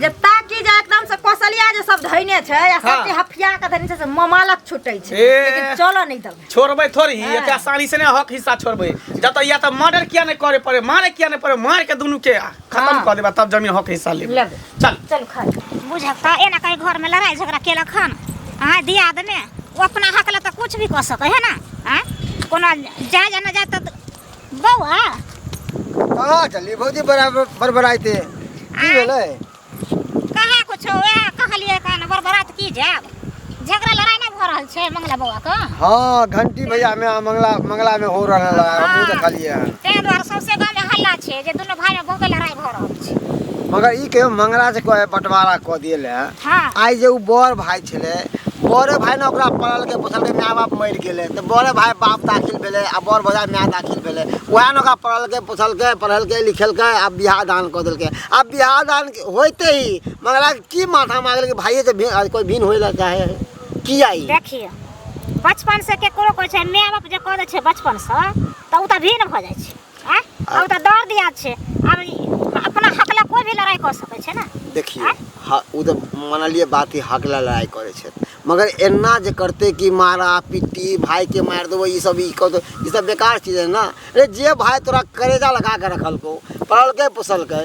जे ताकि जे एकदम से कोसलिया जे सब धैने छै आ सब जे हफिया के धैने छै से ममालक छुटै छै ए। लेकिन चलऽ नहि देबै छोड़बै थोड़ी हाँ। एते आसानी से नहीं हक हिस्सा छोड़बै जब तक या तो मर्डर किया नहीं करे पड़े मारे किया नहीं पड़े मार के दोनों के खत्म हाँ। कर देबा तब जमीन हक हिस्सा लेबे लेबे। चल चल खा बुझता एना कहीं घर में लड़ाई झगड़ा केलक हन अहाँ दिया देने ओ अपना हक ले तो कुछ भी कह सके है ना आँय? कोनो जाय जाना जाय तो बौआ कहाँ चली भौजी बराबर बरबराइते की भेलै कहाँ कुछ वएह कहलिए कान बरबरात की जाब झगड़ा लड़ाई ना भ रहल छै मंगला बौआ के हाँ घंटी भैया में आ मंगला मंगला में हो रहल है हमहूँ हाँ। देखलिए हन ताहि दुआरे सौंसे गाँव में हल्ला छै जे दुनू भाई में बहुते लड़ाई भ रहल छै मगर ई कहियो मंगला से कोई बंटवारा कऽ दिए हाँ आइ जे ओ बड़ भाय छलै बड़े भाय ने ओकरा पढ़लकै पोसलकै माय बाप मरि गेलै तऽ बड़े भाय बाप दाखिल भेलै आ बड़ भौजा माय दाखिल भेलै उएह ने ओकरा पढ़लकै पोसलकै पढ़ेलकै लिखेलकै आ बियाह दान कऽ देलकै आ बियाह दान होइते ही मगरा की माथा मारल कि भाइये से भिन्न कोइ भिन्न होय लए चाहे है किया ई देखिए बचपन से केकरो कहै छै माय बाप जे कऽ दै छै बचपन से तऽ ओ तऽ भिन्न भऽ जाइ छै हैं अब तो दर्द याद छे अब अपना हक ला कोई भी लड़ाई कर सके छे ना देखिए हाँ वो तो मान लिए बात ही हक ला लड़ाई करे छे मगर एना जे करते कि मारा पिट्टी भाई के मार दो ये सब इको तो ये सब बेकार चीज है ना अरे जे भाई तोरा करेजा लगा के रखल को पढ़ल के पोसल के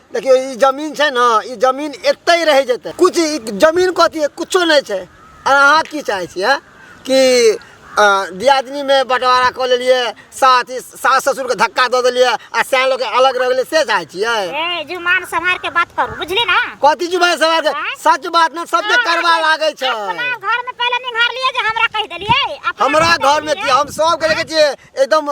देखियो ई जमीन छै ना ई जमीन एते ही रह जेते कुछ ई जमीन कथी है कुछो नहीं छै और अहाँ की चाहे छी है कि अ, दियादनी में बंटवारा कऽ लेलिए साथ ही सास ससुर के धक्का दऽ देलिए आ सैन लोग के अलग रह गेलिए से चाहे छियै ए जुमान संभार के बात करू बुझली ना कथी जुबान सवार के सच बात ना सबके करवा लागे छै अपना घर में पहले निहार लिए जे हमरा कह देलिए अपना हमरा घर में की हम सब के लेके छियै एकदम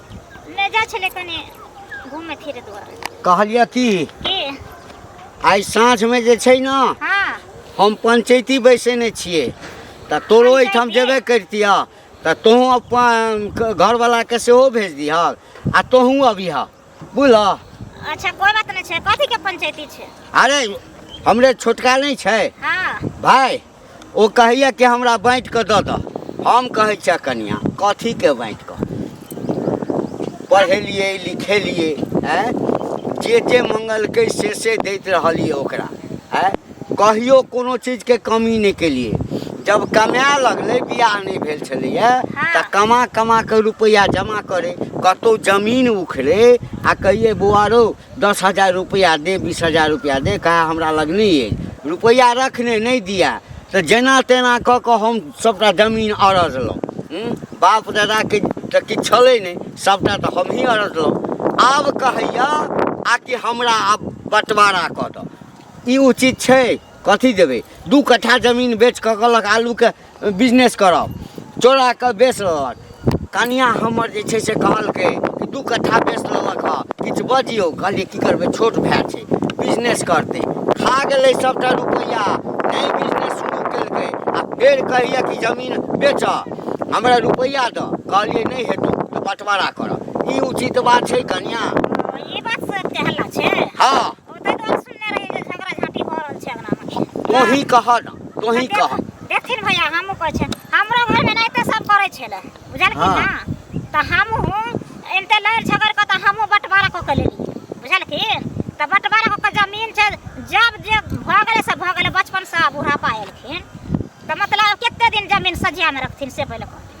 ले जा छले कने घूमे फिरे दुआरे कहलिए की के आइ साँझमे जे छै ने हाँ हम पंचैती बैसेने छियै तऽ तोरो एहिठाम पंचैती? जेबे करितिह तऽ तोहूँ अपन क- घरवलाके सेहो भेज दिहऽ आ तोहूँ अबिह बुझलह अच्छा कोई बात नहीं छे कथी के पंचायती छे अरे हमरे छोटका नहि छै हाँ भाय ओ कहैया कि हमरा बाँटि कऽ दऽ दह हम कहै छियै कनिया कथीके बाँटि कऽ पढ़ेलियै लिखेलियै आँय जे जे मंगलकै से से दैत रहलियै ओकरा आँय कहियो कोनो चीजके कमी नहि केलियै जब कमाए लगलै बियाह नहि भेल छलैया तऽ कमा कमा कऽ रुपैआ जमा करै कतौ जमीन उखड़े आ कहियै बौआ रौ दस हजार रुपैआ दे बीस हजार रुपैआ दे कहा हमरा लग नहि अछि रुपैआ रखने नहि दिअ तऽ जेना तेना कऽ कऽ हम सभटा जमीन अरजलहुँ हूँ? बाप दादाके तऽ किछु छलै नहि सभटा तऽ हमही अरजलहुँ आब कहैया आ कि हमरा आब बंटवारा कऽ दऽ ई उचित छै कथी देबै दू कट्ठा जमीन बेच कऽ कहलक आलूके बिजनेस करब चोरा कऽ बेच लेलक कनिआँ हमर जे छै से कहलकै कि दू कट्ठा बेच लेलक हँ किछु बजियौ कहलियै की करबै छोट भाय छै बिजनेस करतै खा गेलै सभटा रुपैआ नहि बिजनेस शुरू केलकै आ फेर कहैया कि जमीन बेचऽ हमरा रुपैआ दऽ कहलियै नहि हेतौ तऽ बँटवारा करऽ ई उचित बात छै कनिआँ ई बात से हल्ला छै हँ तोही कह ना तोही कह देखथिन भैया हमहु कहै छै हमरो घर में एनाहिते सब करै छलै बुझलखिन हाँ। ना तऽ हमहु एनते लड़ झगड़ कऽ तऽ हमहु बंटवारा कऽ के लेली बुझलखिन तऽ बंटवारा कऽ के जमीन छै जब जे भऽ गेलै से भऽ गेलै बचपन से बुढ़ापा एलखिन तऽ मतलब कते दिन जमीन सजिया में रखथिन से पहिले कहथिन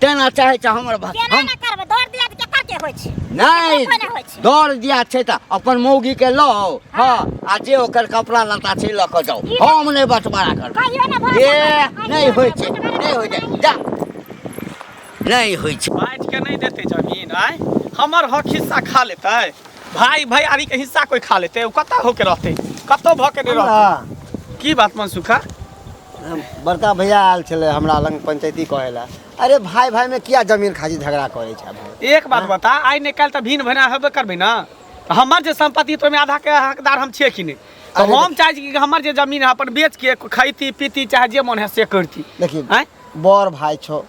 तेना चाहे छै हमर भाषा केना हम ने करबै दौड़ दिया तऽ केकर के होइ छै नहि केकर कोना होइ छै दौड़ दिया छै तऽ अपन मौगी के लऽ आउ हँ आ जे ओकर कपड़ा लत्ता छै लऽ कऽ जाउ ई- हम नहि बँटवारा करबै कहियो ने भऽ ए सकैए। नहि होइ छै नहि होइ छै जा नहि होइ छै बाँटि के नहि देतै जमीन आय हमर हक हिस्सा खा लेतै भाय भैयारी के हिस्सा कोई खा लेतै ओ कतऽ होके रहतै कतौ भऽ के नहि रहतै की बात मनसुखा बड़का भैया आयल छलै हमरा लग पंचायती कहै लए अरे भाय भाय में किया जमीन खातिर झगड़ा करै छै भाय एक बात बता आइ नहि काल्हि तऽ भिन्न भैना हेबे करबै ने तऽ हमर जे सम्पत्ति तऽ ओहिमे आधाके हकदार हम छियै कि नहि तऽ अरे हम चाहै छी कि हमर जे जमीन है अपन बेच के खैती पीती चाहे जे मन है से करती देखिए आँय बड़ भाय छौ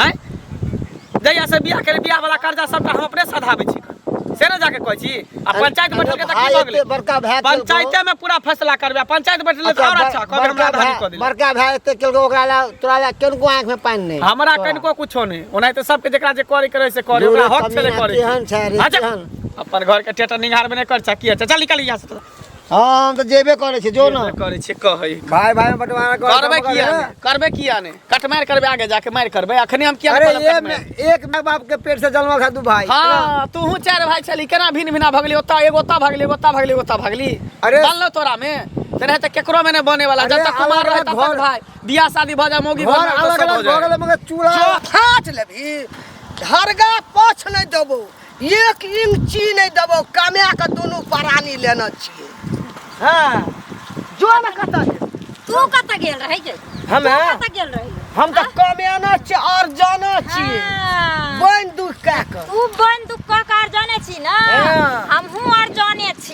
हैं जहिया से बियाह करे बियाह वाला कर्जा सबटा हम अपने सधाबै छी से ना जाके कहै छी आ पंचायत बैठल के त की भ गेलै बड़का भाई पंचायते में पूरा फैसला करबे पंचायत बैठल त और अच्छा कहबे हमरा आधानी क देली बड़का भाई एते केलको ओकरा ला तोरा ला केनको आंख में पानी नहीं हमरा कनको कुछो नहीं ओना त सबके जेकरा जे करे करे से करे ओकरा हक छले करे केहन छै रे अच्छा। केहन अपन घर के टेटर निहार में नहीं कर छा की अच्छा चल निकल यहाँ से तो। हाँ हम तऽ जेबे करै छी जो ना करै छै कहै भाय भाय में बंटवारा कर करबे किया ने करबे किया ने कटमार करबे आगे जाके मार करबे अखने हम किया अरे एक में एक माय बाप के पेट से जन्म खा दू भाई हां तू हूं चार भाई छली केना भिन भिना भगली ओता एगो ओता भगली एगो ओता भगली ओता भगली अरे बाल तोरा में तेरे त केकरो में ने बने वाला जब तक कुमार रहे तब तक भाई बियाह शादी भ जा मोगी घर अलग अलग भगले मगर चूल्हा फाट लेबी हरगा पछ ले देबो एक इंची नहीं देबो कमे के दोनों परानी लेना चाहिए हाँ जो न कता दे तू कत गेल रहे जे हम तू कत गेल रहे हम तो कमे ना छे और जाना चाहिए हाँ। बन दुख का कर तू बन दुख का कार जाने छी ना हाँ। हमहू और जाने छी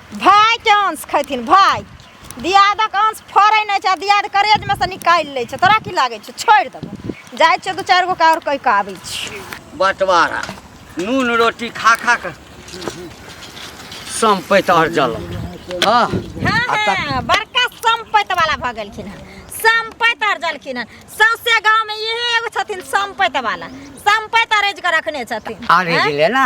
भाइके अंश खैथिन भाइ दियादक अंश फड़ै नहि छै दियाद करेजमे से निकालि लै छै तोरा की लागै छै छोड़ि देबो जाइ छियौ दू चारि गो आओर कहि कऽ आबै छी बँटवारा नून रोटी खा खा कऽ सम्पैत आओर जल हँ हँ बड़का सम्पैत वाला भऽ गेलखिन हँ सम्पैत आओर जलखिन हँ सौंसे गाँवमे इहे एगो छथिन सम्पैत वाला सम्पैत अरेज कऽ रखने छथिन अरेज ले ना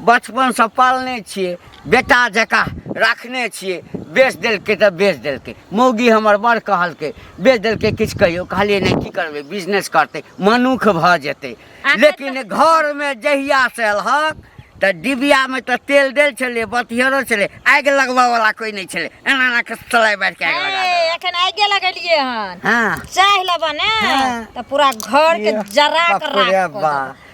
बचपनसँ पालने छियै बेटा जकाँ राखने छियै बेच देलकै तऽ बेच देलकै मौगी हमर बड़ कहलकै बेच देलकै किछु कहियो कहलियै नहि की करबै बिजनेस करतै मनुख भऽ जेतै लेकिन घरमे जहियासँ एलहक तऽ डिबियामे तऽ तेल देल छलै बतिहरो छलै आगि लगबयवला कोइ नहि छलै एना एना कऽ सलाइ बारि कऽ आगि लगा देलक। ए, एखन आगे लगेलियै हन हँ चाह लेबऽ ने हँ। तऽ पूरा घर के जरा के बाप रे राख बा।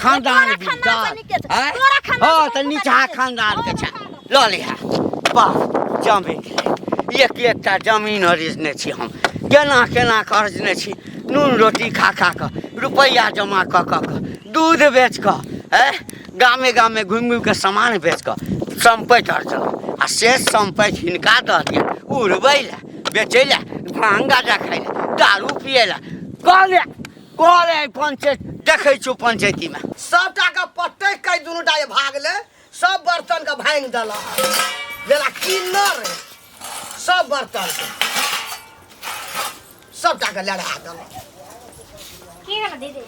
खानदान तोरा खानदान बिरदार बनि के छै। आँय? तोरा खानदान हँ बनि तऽ के निचहा छै। खानदान के छै लऽ लिहा वाह जमीन एक एकटा जमीन अरिजने छी हम केना केना कऽ अरिजने छी नून रोटी खा खा कऽ रुपैआ जमा कऽ कऽ कऽ दूध बेच कऽ है गामे गामे घुमि घुमि कऽ सामान बेच कऽ सम्पैत अरजलहुँ आ से सम्पैत हिनका दऽ दिया उड़बै लए बेचै लए भांग गाजा खाइ लए दारू पियै लए कहलियै करे है पंचायत देखे छो पंचायती में सबटा के पट्टे कई दुनू टा जे भागले सब बर्तन के भांग देला जेला किन्नर है, सब बर्तन के सबटा के लड़ा देला की भेल दीदी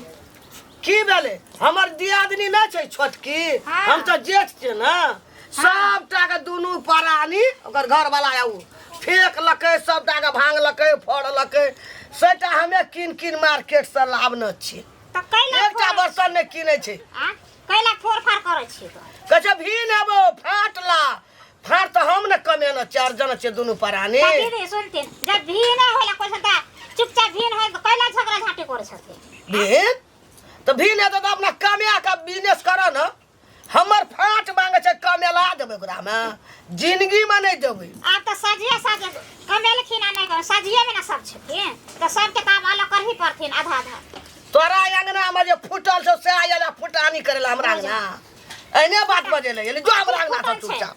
की भेले हमर दियादनी ना छै छोटकी हाँ। हम तो जेठ छै ना सबटा के दुनू परानी ओकर घर वाला आऊ फेंकलकै सबटाके भांगलकै फोड़लकै सेटा हमे कीन कीन मार्केट से लावने छी तऽ कैला एकटा बर्तन नहि किनै छै आ कैला फोड़ फाड़ करै छी तऽ कहै छै भीन हेबो फाट ला फाट तऽ हम ने कमेने चार जन छै दुनू परानी तऽ दीदी सुनथिन जब भी नहि होला कोइ सदा चुपचाप भी नहि तऽ कैला झगड़ा झाँटी करै छथिन भीन तऽ भीन हेतै तऽ अपना कमाए कऽ बिजनेस करऽ ने हमर फाट मांगे छै कमेला देबै ओकरा मे जिंदगी में नहीं देबै आब तऽ सजिए सजे कमेलखिन आ नहि कमेलखिन सजिएमे ने सब छथिन तऽ सबके तऽ आब अलग करही पड़थिन आधा आधा तोरा अंगना में जे फूटल छौ से आयल फुटानी करे ला हमरा अंगना एने बात बजे ले जो हमरा अंगना से चुपचाप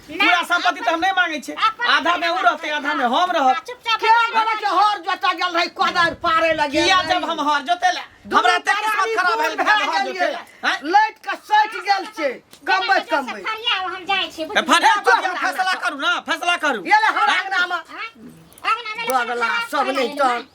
पूरा संपत्ति तऽ हम नहि मांगे छी आधा में ओ रहते आधा में हम रहब चुपचाप के बोला के हर जोता गेल रही कोदार पारे लगे किया जब हम हर जोते ला हमरा ते किस्मत खराब भेल भए गेल हर जोते ला हैं? लाइट के सट गेल छै कमबै कमबै फरिया हम जाइ छी ए, फरिया फरिया फैसला करू ना फैसला करू ये ले हमरा अंगना में अगना में दोगला सब नहीं तो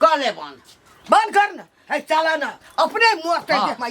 कहले बन बन कर ना है चला ना अपने मुंह पे हाँ। देख माई